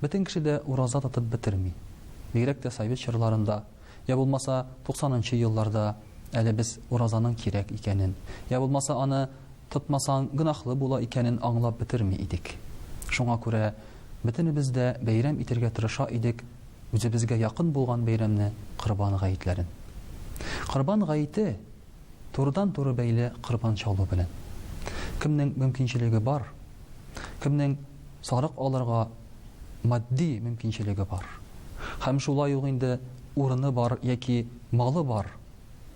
Бөтен кеше дә ураза тотып бетерми. Бигрәк тә совет чорларында, йә булмаса, туксанынчы елларда әле без уразаның кирәк икәнен, йә булмаса аны тотмасаң гөнаһлы була икәнен аңлап бетерми идек. Шуңа күрә бөтенебез дә бәйрәм итергә тырыша идек үзебезгә якын булган бәйрәмне, Корбан гаетләрен. Корбан гаете, Турыдан-туры бәйле корбан чалу белән. Кемнең мөмкинчелеге бар, кемнең сарык алырга матди мөмкинчелеге бар һәм шулай ук инде урыны бар яки малы бар,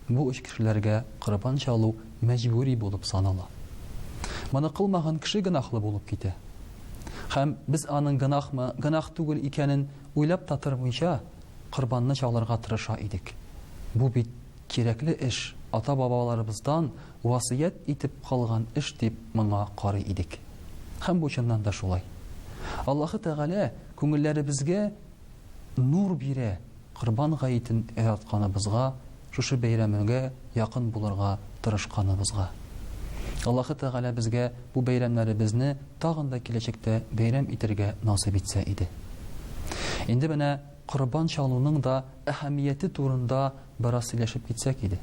бу өч кешеләргә корбан чалу мәҗбүри булып санала. Моны кылмаган кеше гөнаһлы булып китә. Һәм без аның гөнаһмы, гөнаһ түгел икәнен уйлап та тормыйча, корбанны чалырга тырыша идек. Бу бит Кирәкле эш, ата-бабаларыбыздан васыять итеп калган эш дип моңа карый идек. Һәм бу чыннан да шулай. Аллаһы Тәгалә күңелләребезгә нур бирә, Корбан гаетен яратканыбызга, шушы бәйрәмгә якын булырга тырышканыбызга. Аллаһы Тәгалә безгә бу бәйрәмнәребезне тагын да киләчәктә бәйрәм итәргә насыйп итсә иде. Инде менә Корбан чалуның да әһәмияте турында бераз сөйләшеп китсәк иде.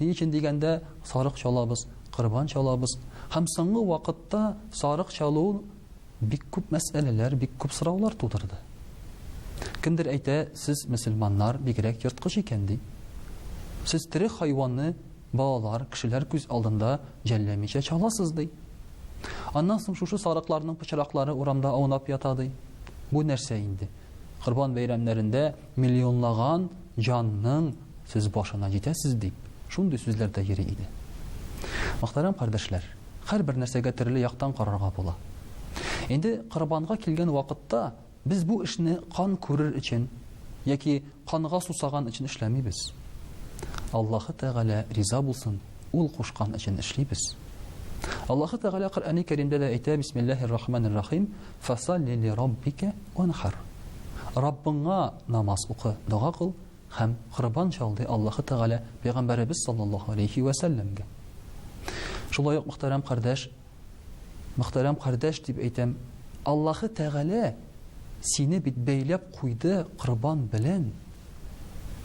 Ни өчен дигәндә, сарык чалабыз, корбан чалабыз һәм соңгы вакытта сарык чалу бик күп мәсьәләләр, бик күп сораулар тудырды. Кемдер әйтә, сез, мөселманнар, бигрәк ерткыч икән, ди. Сез тере хайванны Балалар, кешеләр күз алдында җәлләмичә чаласыз, ди. Аннан соң шушы сарыкларның пычраклары урамда аунап ята, ди. Бу нәрсә инде? Корбан бәйрәмнәрендә миллионлаган җанның сез башына җитәсез, дип, шундый сүзләр дә йөри иде. Мөхтәрәм кардәшләр, һәрбер нәрсәгә төрле яктан карарга була. Инде корбанга килгән вакытта, Без бу эшне кан күрер өчен яки канга сусаган өчен эшләмибез. Аллаһы Тәгалә риза булсын, Ул кушкан өчен эшлибез. Аллаһы Тәгалә Коръәни Кәримдә дә әйтә, Бисмиллаһир рахманир рахим, Фасалли ли раббика уанхар. Раббыңа намаз укы, дога кыл һәм корбан чал, ди Аллаһы Тәгалә Пәйгамбәребез саллаллаһу алейһи вә сәлләмгә. Шулай ук, мөхтәрәм кардәш, Мөхтәрәм кардәш дип әйтәм, Аллаһы Тәгалә сине бит бәйләп куйды корбан белән,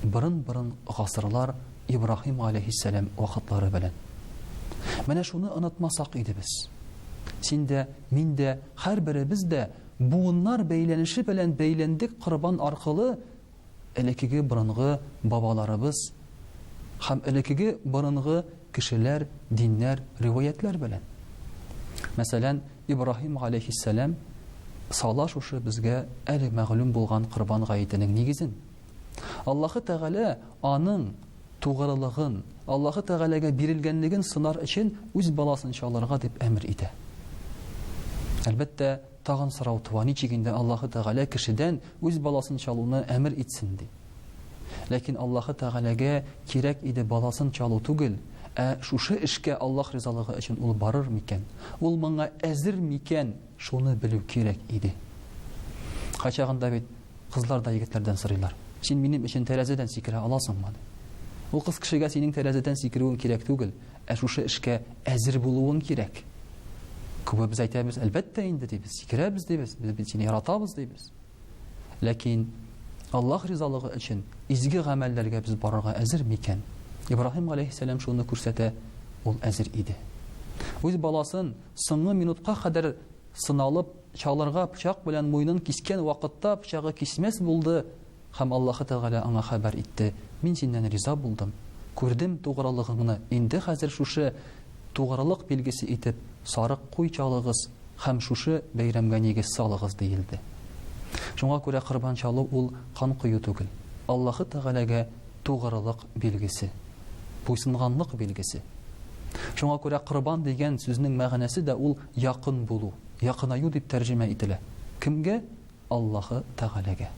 борын-борын гасырлар Ибраһим галәйһиссәлам вакытлары белән. Менә шуны онытмасак иде без. Син дә, мин дә, һәрберебез дә буыннар бәйләнеше белән бәйләндек корбан аркылы элекеге борынгы бабаларыбыз һәм элекеге борынгы Кешеләр, диннәр, риваятьләр белән. Мәсәлән, Ибраһим галәйһиссәлам сала шушы безгә әле мәгълүм булган Корбан гаетенең нигезен. Аллаһы Тәгалә аның тугрылыгын, Аллаһы Тәгаләгә бирелгәнлеген сынар өчен үз баласын чалырга дип әмер итә. Әлбәттә, Тагын сорау туа, ничек инде Аллаһы Тәгалә кешедән үз баласын чалуны әмер итсен, ди. Ләкин Аллаһы Тәгаләгә кирәк иде баласын чалу түгел, ә шушы эшкә Аллаһ ризалыгы өчен ул барыр микән, ул моңа әзер микән, шуны белү кирәк иде. Кайчагында бит кызлар да егетләрдән сорыйлар, Син минем өчен тәрәзәдән сикерә аласыңмы? Ул кыз кешегә синең тәрәзәдән сикерүең кирәк түгел, Ә шушы эшкә әзер булуың кирәк. Күбебез әйтәбез, әлбәттә инде дибез, сикерәбез дибез, без бит сине яратабыз дибез. Ләкин Аллаһ ризалыгы өчен изге гамәлләргә без барырга әзер микән? Ибраһим галәйһиссәлам шуны күрсәтә, ул әзер иде. Үз баласын соңгы минутка кадәр сыналып, чалырга пычак белән муенын кискән вакытта пычагы кисмәс булды, Һәм Аллаһы Тәгалә аңа хәбәр итте, Мин синнән риза булдым, күрдем тугрылыгыңны, инде хәзер шушы тугрылык билгесе итеп сарык куй чалыгыз һәм шушы бәйрәмгә нигез салыгыз, диелде. Шуңа күрә корбан чалу ул кан кою түгел, Аллаһы Тәгаләгә тугрылык билгесе, буйсынганлык билгесе. Шуңа күрә корбан дигән сүзнең мәгънәсе дә ул якын булу, якынаю дип тәрҗемә ителә. Кемгә? Аллаһы Тәгаләгә.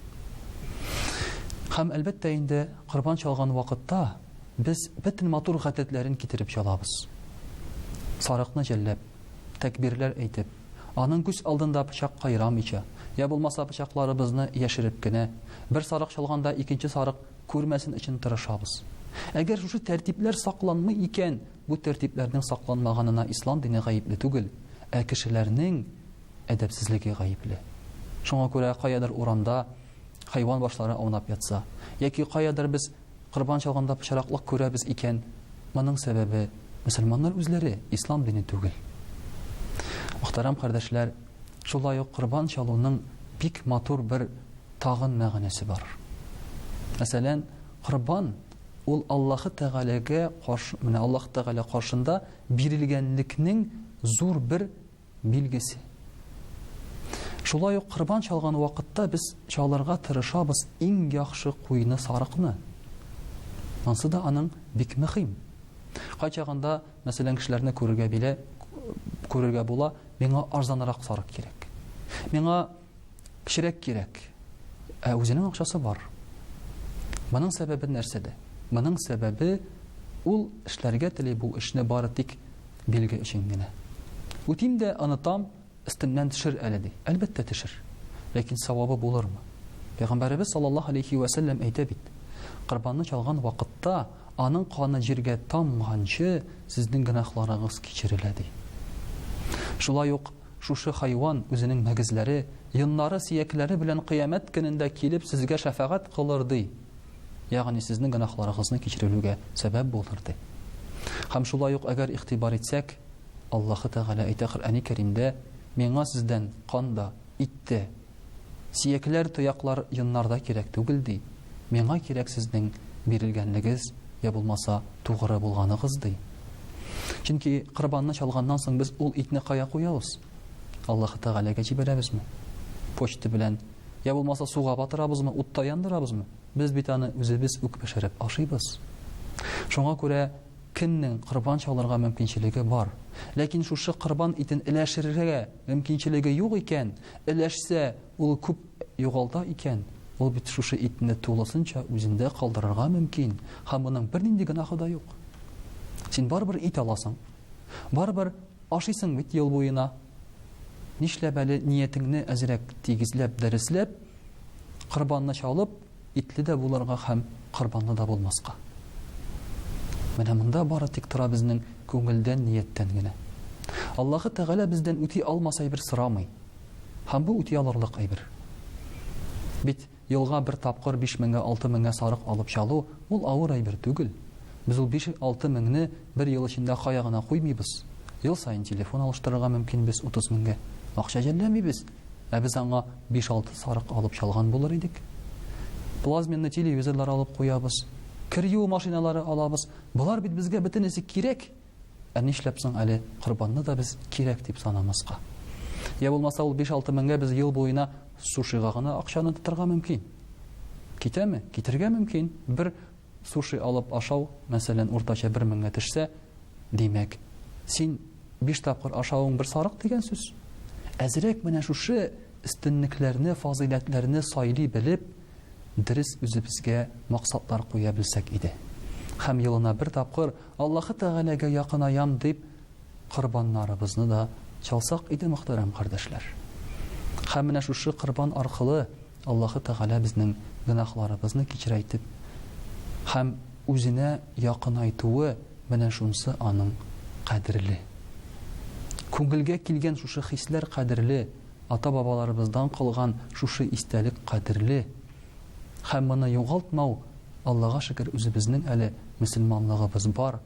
Һәм, әлбәттә инде, корбан чалган вакытта без бөтен матур гадәтләрен китереп чалабыз. Сарыкны җәлләп, тәкбирләр әйтеп, аның күз алдында пычак кайрамыйча, йә булмаса пычакларыбызны яшереп кенә, бер сарык чалганда икенче сарык күрмәсен өчен тырышабыз. Әгәр шушы тәртипләр сакланмый икән, бу тәртипләрнең сакланмаганына ислам дине гаепле түгел, ә кешеләрнең, әдәпсезлеге гаепле. Шуңа күрә каядыр урамда хайван башлары аунап ятса, яки каядыр без корбан чалганда пычраклык күрәбез икән, моның сәбәбе мөселманнар үзләре, ислам дине түгел. Мөхтәрәм кардәшләр, шулай ук корбан чалуның бик матур бер тагын мәгънәсе бар. Мәсәлән, корбан ул Аллаһы Тәгаләгә каршы, менә Аллаһ Тәгалә каршында бирелгәнлекнең зур бер билгесе. Шулай ук корбан чалган вакытта без чалырга тырышабыз иң яхшы куйны сарыкны. Монсы да аның бик мөһим. Кайчагында, мәсәлән, кешеләрне күрергә биле күрергә була, миңа арзанрак сарык кирәк. Миңа Кечерәк кирәк. Ә үзенең акчасы бар. Моның сәбәбе нәрсәдә? Моның сәбәбе ул эшләргә тели бу эшне бары тик билге өчен генә. Үтим дә онытам, өстемнән төшер әле ди. Әлбәттә төшер. Ләкин савабы булырмы? Пәйгамбәребез саллаллаһу алейхи ва сәлләм әйтә бит. Корбанны чалган вакытта аның каны җиргә тамганчы сезнең гөнаһларыгыз кичерелә ди. Шулай ук Шушы хайван үзенең мөгезләре, йоннары, сөякләре белән Кыямәт көнендә килеп сезгә шәфәгать кылыр, ди, ягъни сезнең гөнаһларыгызны кичерелүгә сәбәп булыр, ди. Һәм шулай ук әгәр игътибар итсәк, Аллаһы Тәгалә әйтә Коръәни Кәримдә, Миңа сездән кан да, ит тә, Сөякләр, тояклар, йоннарда кирәк түгел, ди. Миңа кирәк сезнең бирелгәнлегез, я булмаса, тугры булганыгыз, ди. Чөнки корбанны чалганнан соң без ул итне кая куябыз? Аллаһы Тәгаләгә җибәрәбезме? Почта белән, я булмаса, суга батырабызмы, утта яндырабызмы? Без бит аны үзебез үк пешереп ашыйбыз. Шуңа күрә кемнең корбан чалырга мөмкинчелеге бар, ләкин шушы корбан итен эләшерергә мөмкинчелеге юк икән, Өләшсә, ул күп югалта икән, ул бит шушы итне тулысынча үзендә калдырырга мөмкин, һәм моның бернинди гөнаһы да юк. Син барыбер ит аласың. Барыбер ашыйсың бит ел буена. Нишләп әле ниятеңне әзрәк тигезләп, дәресләп, корбанны чалып, Итле дә булырга һәм корбанлы да булмаска. Менә монда бары тик тора безнең күңелдән, нияттән генә. Аллаһы Тәгалә бездән үти алмас әйбер сорамый. Һәм бу үти алырлык әйбер. Бит елга бер тапкыр биш меңгә, алты меңгә сарык алып чалу, ул авыр әйбер түгел. Без ул биш, алты меңне бер ел эчендә кая гына куймыйбыз. Ел саен телефон алыштырырга мөмкин без утыз меңгә акча жәлләмибез. Ә без аңа биш-алты сарык алып чалган булыр идек. Плазменный телевизорлар алып куябыз, кер юу машиналары алабыз. Болар бит безгә бөтенесе кирәк. Ә нишләп соң әле корбанны да без кирәк дип санамаска? Йә булмаса ул биш-алты меңгә без ел буена сушига гына акчаны тотарга мөмкин. Китәме? Китергә мөмкин. Бер Суши алып ашау, мәсәлән, уртача бер меңгә төшсә, димәк, син биш тапкыр ашавың бер сарык дигән сүз. Әзрәк менә шушы өстенлекләрне, фазыйләтләрне сайлый белеп, дөрес үзебезгә максатлар куя белсәк иде. Һәм елына бер тапкыр Аллаһы Тәгаләгә якынаям дип, корбаннарыбызны да чалсак иде, мөхтәрәм кардәшләр. Һәм менә шушы корбан аркылы, Аллаһы Тәгалә безнең гөнаһларыбызны кичерәйтеп һәм Үзенә якынайтуы, менә шунсы Аның кадерле. Күңелгә килгән шушы хисләр кадерле, ата-бабаларыбыздан калган шушы истәлек кадерле. Һәм моны югалтмау, Аллага шөкер, үзебезнең әле мөселманлыгыбыз бар.